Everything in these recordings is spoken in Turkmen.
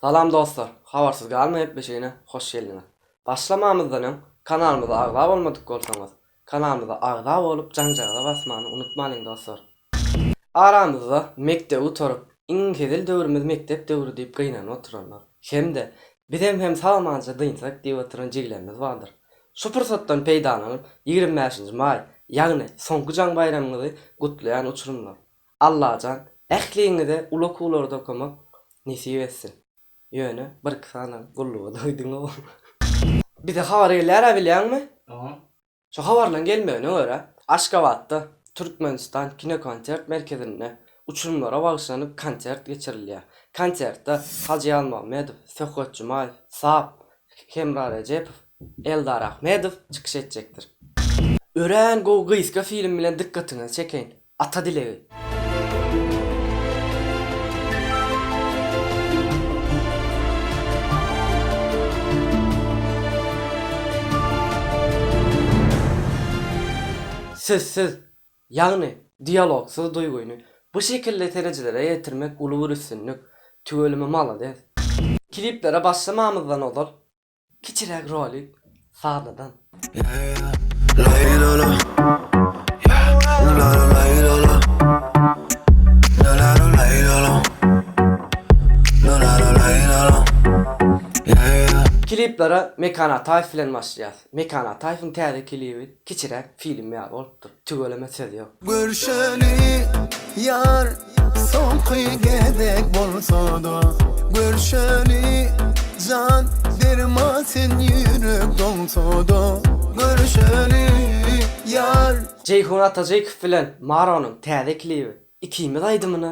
Salam dostlar! Habarsyz galma gepleşigine hoş geldiňiz! Başlamamyzdan öň kanalymyza agza bolmadyk bolsaňyz, kanalymyza agza bolup janjagaza basmany unutmalyň dostlar! Aramyzda mekdebi gutaryp, iň hezil döwrümiz mekdep döwri diýip gynanyp oturanlar, hem-de Bizem hem sagmanja dynsak diýip oturan jigilerimiz bardyr. Şu pursatdan peýdalanyp, ýigrimi bäşinji maý, ýagny soňky jaň baýramyňyzy gutlaýan uçurymlar! Allajan ähliňize uly okuwlarda okamak nesip etsin. Ýöne birki sany gulluga doýduňow. Bize habar gelýärä bilýäňmi? Şo habarlaň gelmegine görä, Aşgabatda Türkmenistan kinokonsert merkezinde uçurymlara bagyşlanyp konsert geçirilýär. Konsertde Hajy Ýazmagmedow, Söhbet Jumaýew, Sap, Hemra Rejepow, Eldar Ahmedow çykyş etjekdir. Örän gowy gysga film bilen dykgatyňyzy çekeýin. Ata dilegi. Sözsüz, ýagny dialogsyz duýgyny bu şekilde seredijilere ýetirmek uly bir üstünlik. Tüweleme malades. Kliplere başlamamyzdan ozal Kiçiräk rolik sazladan. Kliplere Mekan Ataýew bilen başlaýas. Mekan Ataýewiň täze klibi. Kiçiräk film ýaly bolupdyr. Tüweleme söz ýok. Görşeli ýar soňky gezek bolsada görşeli jan berma sen ýürek doňsada görşeli ýar. Jeýhun Atajykow bilen Maronyň täze klibi ikimiz aýdymyna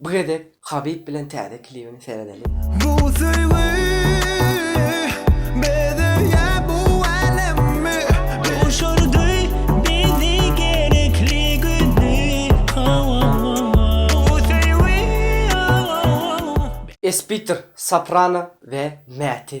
Bu gezek Habib bilen täze klibini seredeliň. Bu söýgi bezeýä bu älemi. Duşurdy bizi gerekli güni hawa-wa-wa. Bu söýgi, a-wa-wa-wa. Espitr, Soprano we Mäti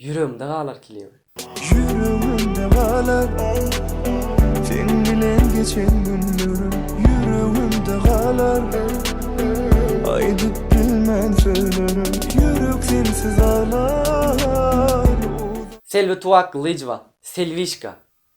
Ýüregimde galar klibi. Ýüregimde galar Seň bilen geçen günlerim Ýüregimde galar Aýdyp bilmen sözlerim Ýürek sensiz aglar Selbi Tuwaklyjowa Selwişka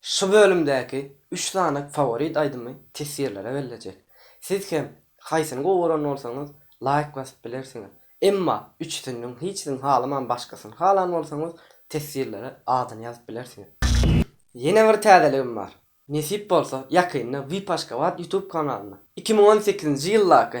Şu bölümdäki üç sany faworit aýdymy teswirlere bellejek. Siz hem haýsyny gowy gören bolsaňyz laýk basyp bilersiňiz. Emma üçüsiniň hiçsini halaman başgasyny halan bolsaňyz teswirlere adyny ýazyp bilersiňiz. Ýene bir täzeligim bar. Nesip bolsa ýakynda Vip Aşgabat ýutub kanalynda iki müň on sekizinji ýyldaky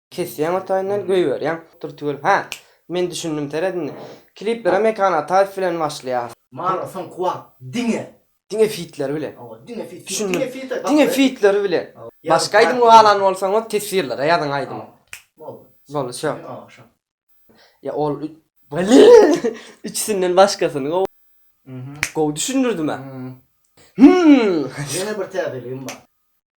Kesýäň ortaýyndan goýberýäň dur tüwel hä men düşündim seret indi kliplere Mekan Ataýew bilen başlaýas. Mara soňky wagt diňe. Diňe fitleri bilen. Hawa diňe fit. Düşündim diňe fitleri bilen. Başga aýdym galan bolsaňyz teswirlere ýazyň aýdymy. Boldy. Boldy şo. Ýa ol üç Blin üçüsinden başgasyny gowy. Gowy düşündirdim hä. Hmmm. Ýene bir täzeligim bar.